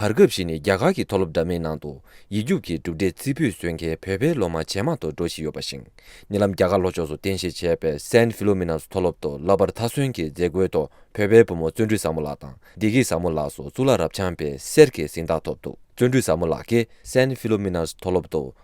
བར་སྐབས་ཤིག་ནས་རྒྱ་གར་གྱི་མཐོ་སློབ་འདྲ་མིན་ནང་དུ་ཡིག་རྒྱུགས་ཀྱི་གྲུབ་འབྲས་རྩིས་འབུལ་བཟོས་མཁན་བོད་པའི་སློབ་མ་ཇེ་མང་དུ་འགྲོ་བཞིན་ཡོད་པ་ཞིང་ཉེ་ལམ་རྒྱ་གར་ལྷོ་ཕྱོགས་སུ་རྟེན་གཞི་བྱས་པའི Saint Philomena's མཐོ་སློབ་ཏུ་བསླབ་པར་མཐའ་སོན་གྱི་མཛད་སྒོའི་ཐོག་བོད་པའི་བུ་མོ་བརྩོན་འགྲུས་བཟང་མོ་ལགས་དང་བདེ་སྐྱིད་བཟང་མོ་ལགས་སོགས་གཙུག་ལག་རབ་འབྱམས་པའི་གསེར་གྱི་གཟེངས་རྟགས་ཐོབ་འདུག་བརྩོན་འགྲུས་བཟང་མོ་ལགས་ཀྱིས Saint Philomena's མཐོ་སློབ་ཏུ་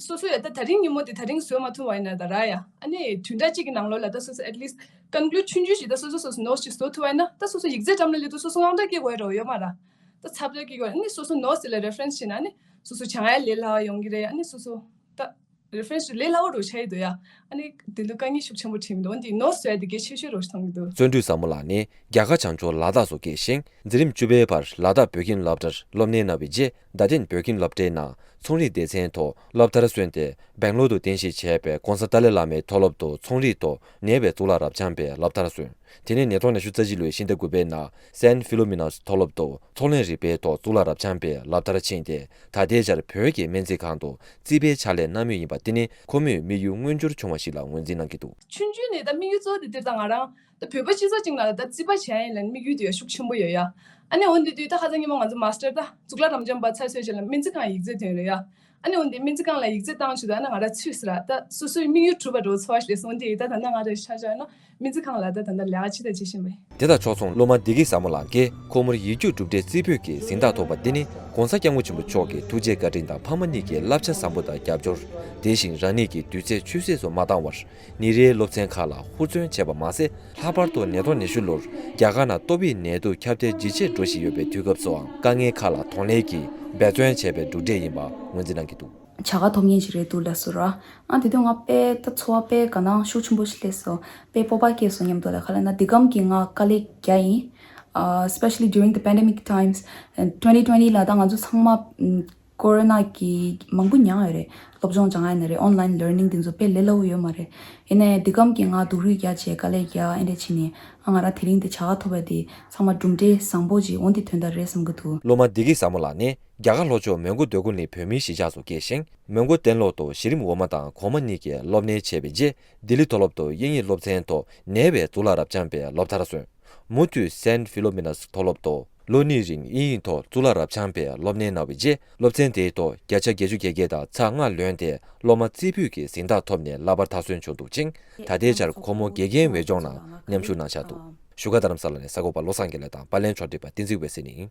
སོ་སོ་ཡ་ད་ད་རིང་ཉིན་མོ་དེ་ད་རིང་བཟོས་མ་ཐུང་བ་ཡིན་ན་ད་ར་ཡ་ཨ་ནེ་དུས་འདྲ་གཅིག་གི་ནང་ལོ་ལ་ད་སོ་སོ at least conclude ཆུང་ཆུང་ཞིག་ད་སོ་སོ་སོ་སོ notes ཅིག་བཟོ་ཐུབ་པ་ཡིན་ན་ད་སོ་སོ་ཡིག་རྩལ་འགྲམ་ལ་སླེབས་དུས་སོ་སོ་དངངས་སྐྲག་སྐྱེ་དགོས་ཡ་རོ་ཡོད་མ་ར་ད་ཚབ་ཚབ་སྐྱེ་དགོས་ཡ་ཨ་ནེ་སོ་སོ notes དེ་ལ reference བྱེད་ན་ཨ་ནེ་སོ་སོ་བྱང་ཡ་ལས་སླ་བ་ཡོང་གི་རེད་ཡ་ཨ་ནེ་སོ་སོ་ད reference དེ་ལས་སླ་བོ་རུ་ཆ་ཡི་འདུག་ཡ་ཨ་ནེ་དེ་འདུག་དཀའ་ངལ་ཤུགས་ཆེན་པོ་འཕྲད་ཀྱི་འདུག་འོན་ཏེ notes བྱས་དེ་གས་ཆེ་ཤོས་རུ་མཐོང་གི་འདུག། བརྩོན་འགྲུས་ཟབ་མོ་ལགས་ནས་རྒྱ་གར་བྱང་ཕྱོགས་ལ་དྭགས་སུ་སྐྱེས་ཤིང་འཛིན་རིམ་བཅུ་པའི་བར་ལ་དྭགས་བོད་ཁྱིམ་སློབ་གྲྭར་སློབ་གནས་གནང་བའི་རྗེས། རྡ་སྟེང་བོད་ཁྱིམ་སློབ་གྲྭའི་ནང་ཚོང་རིག་སྡེ་ཚན་ཐོག་སློབ་མཐར་སོན་ཏེ་སྦེང་ལོར་དུ་རྟེན་གཞི་བྱས་པའི ྋགོང་ས་ཏཱ་ལའི་བླ་མའི་མཐོ་སློབ་ཏུ་ཚོང་རིག་ཐོག་ནད་པའི་གཙུག་ལག་རབ་འབྱམས་པའི་སློབ་མཐར་སོན། དེ་ནས་ནད་ཐོག་ནས་ཞུ་རྩ་སྤྱི་ལོའི་ཕྱི་ཟླ་དགུ་པའི་ནང་སན་ཕི་ལོ་མི་ནོས་མཐོ་སློབ་ཏུ་ཚོང་ལས་རིག་པའི་ཐོག་གཙུག་ལག་རབ་འབྱམས་པའི་སློབ་མཐར་ཕྱིན་ཏེ་ད་ལྟའི་ཆར་བོད་ཀྱི་སྨན་རྩིས་ཁང་དུ་རྩིས་པའི་ཕྱག་ལས་གནང་མུས་ཡིན་པ་འདི་ནི་ཁོ་མོས་དམིགས་ཡུལ་མངོན་འགྱུར་བྱུང་བ་ཞིག་ལ་ངོས་འཛིན་གནང་གི་འདུག། ཆུང་དུས་ནས་ད་དམིགས་ཡུལ་གཙོ་བོ་དེ་དེབ་དང་ང་རང་ད་བོད་པ་སྤྱི་ཚོགས་ཅིག་ནང་ལ་ད་བརྩིས་པ་བྱས་ཡིན་ལ་ནི་དམིགས་ཡུལ་དེ་ཡང་ཤུགས་ཆེན་པོ་ཡོད་ཡ། ཨ་ནེ་འོ་འདི་དུས་ད་ཧ་ཚང་སྙན་མོ་ང་ཚོ་མཱ་སྟར་ད་གཙུག་ལག་རམ་འབྱམས་པ་ཚར་གསོལ་བྱས་ལ་སྨན་རྩིས་ཁང་ཡིག་རྩོད་དོན་རེད་ཡ། ཨ་ནེ་འོ་འདི་སྨན་རྩིས་ཁང་ལ་ཡིག་རྩོད་བཏང་ཆུག་ད་ཨ་ན་ང་ར་ཚུད་སི་ར་ད་སོ་སོའི་དམིགས་ཡུལ་གྲུབ་པ་འགྲོ་ཚོ་བ་ཞེས་སོང་དེ་ད་ད་ནང་ང་ར་ཤར་ཤར་ན་སྨན་རྩིས་ཁང་ལ་ད་ད་ད་ལས་ཀ་ཅི་དང་ཅི་བྱེད་མི། དེ་དང་ཕྱོགས་མཚུངས་སློབ་མ་བདེ་སྐྱིད་ཟབ་མོ་ལགས་ཀྱིས་ཁོ་མོར་ཡིག་རྒྱུགས་གྲུབ་འབྲས་རྩིས་འབུལ་གྱི་གཟེངས་རྟགས་ཐོབ་པ་འདི་ནི ྋགོང་ས ྋསྐྱབས་མགོན་ཆེན་པོ་མཆོག་གི་ཐུགས་རྗེ་བཀའ་དྲིན་དང་ཕ་མ་གཉིས་ཀྱི་བསླབ་བྱ་བཟང་པོ་དང་རྒྱབ་སྐྱོར། དེ་བཞིན་རང་ཉིད་ཀྱི་དུས་ཚེས་ཆུད་ཟོས་སུ་མ་བཏང་བར་ནི་རེའི་སློབ་ཚན་ཁག་ལ་ཧུར་བརྩོན་བྱས་པ་མ་ཟད་ལྷག་པར་དུ་ནད་ཐོག་ཉི་ཤུ་ལོར་རྒྱ་གར་ནང་ཏོག་དབྱིབས་ནད་དུག་ཁྱབ་གདལ་ཇི་ཆེར་འགྲོ་བཞིན་ཡོད་པའི་དུས་སྐབས་སུའང་དཀའ་ངལ་ཁག་ལ་དོགས་གནས་ཀྱིས་འབད་བརྩོན་བྱས་པའི་གྲུབ་འབྲས་ཡིན་པ་ངོས་འཛིན་གནང་གི་འདུག། བྱ་དགའ་ཐོབ་ཉིན་ཞིག་རེད་འདུག་ལས་སུ་ར། ཨང་དེ་དུས་ང་དཔེ་ལྟ་འཚོ་བ་དཔེ་དགའ་ན་ཤུགས་ཆེན་པོ་ཞིག་སླེབས་སོ། དཔེ་སྤོབས་པ་སྐྱེས་སོ་སྙམ་འདུག་ལས་ཁ་ལས་ན་འདི་གམ་གྱི་ང་དཀའ་ལས་བརྒྱ་ཡིན། Especially during the pandemic times and twenty twenty ལ་ད་ང་ཚོ་ཚང་མ་ཀོ་རོ་ན་གིས་མང་པོ་མྱངས་ཡོད་རེད། སློབ་སྦྱོང་བྱ་ང་ཡིན་རེད Online Learning དེ་ཚོ་དཔེ་ལེ་ལོ་ཡོད་མ་རེད། ཡིན་ནའི་འདི་སྐམ་གི་ང་སྡུག་རུས་རྒྱག་བྱས་དཀའ་ལས་རྒྱག་ཨེ་འདྲས་ཕྱིན་ནས་ཨ་ང་ར་དེ་རིང་དེ་བྱ་ག་ཐོབ་པས་དེ་ཚང་མ་གྲུབ་འབྲས་བཟང་པོ་ཅིག་འོང་དེ་དོན་དག་རེད་བསམ་གི་འདུག། སློབ་མ་འདི་གི་ཟ་མོ་ལགས་ནི་རྒྱ་གར་ལྷོ་ཕྱོགས་མོན་གྷོ་སྡོད་གོ་ནི་བོད་མིའི་གཞིས་ཆགས་སུ་སྐྱེས་ཤིང་མོན་གྷོ་གཏན་སློབ་ཏུ་གཞི་རིམ་འོག་མ་དང་གོང་མ་གཉིས་ཀྱི་སློབ་གནས་བྱས་པའི་རྗེས་ལྡི་ལི་མཐོ་སློབ་ཏུ་དབྱིན་ཡིག་སློབ་ཚན་ཐོག་ནེ་བའི་གཙུག་ལག་རབ་འབྱམས་པའི་སློབ་མཐར་སོན། མུ་མཐུད Saint Philomena's མཐོ་སློབ་ཏུ་ལོ་གཉིས་རིང་དབྱིན་ཡིག་ཐོག་གཙུག་ལག་རབ་འབྱམས་པའི་སློབ་གནས་གནང་བའི་རྗེས་སློབ་ཚན་དེའི་ཐོག་བརྒྱ་ཆ་བརྒྱད་ཅུ་བརྒྱད་བརྒྱད་དང་ཚ་ལྔ་ལོན་ཏེ་སློབ་མ་རྩེ་ཕུད་ཀྱི་གཟེངས་རྟགས་ཐོབ་ནས་གླ་པར་མཐའ་སོན་བྱུང་འདུག་ཅིང་ད་ལྟའི་ཆར་ཁོ་མོ་དགེ་རྒན་འོས་སྦྱོང་ནང་མཉམ་ཞུགས་གནང་འཆར་འདུག་བཞུགས་སྒར་རྡ་རམ་ས་ལ་ནས་ས་གོ་བ་བློ་བཟང་དགེ་ལེགས་དང་པར་ལེན་ཕྱོགས་བསྒྲིགས་པ་བསྟན་འཛིན་འོད་ཟེར་ནི།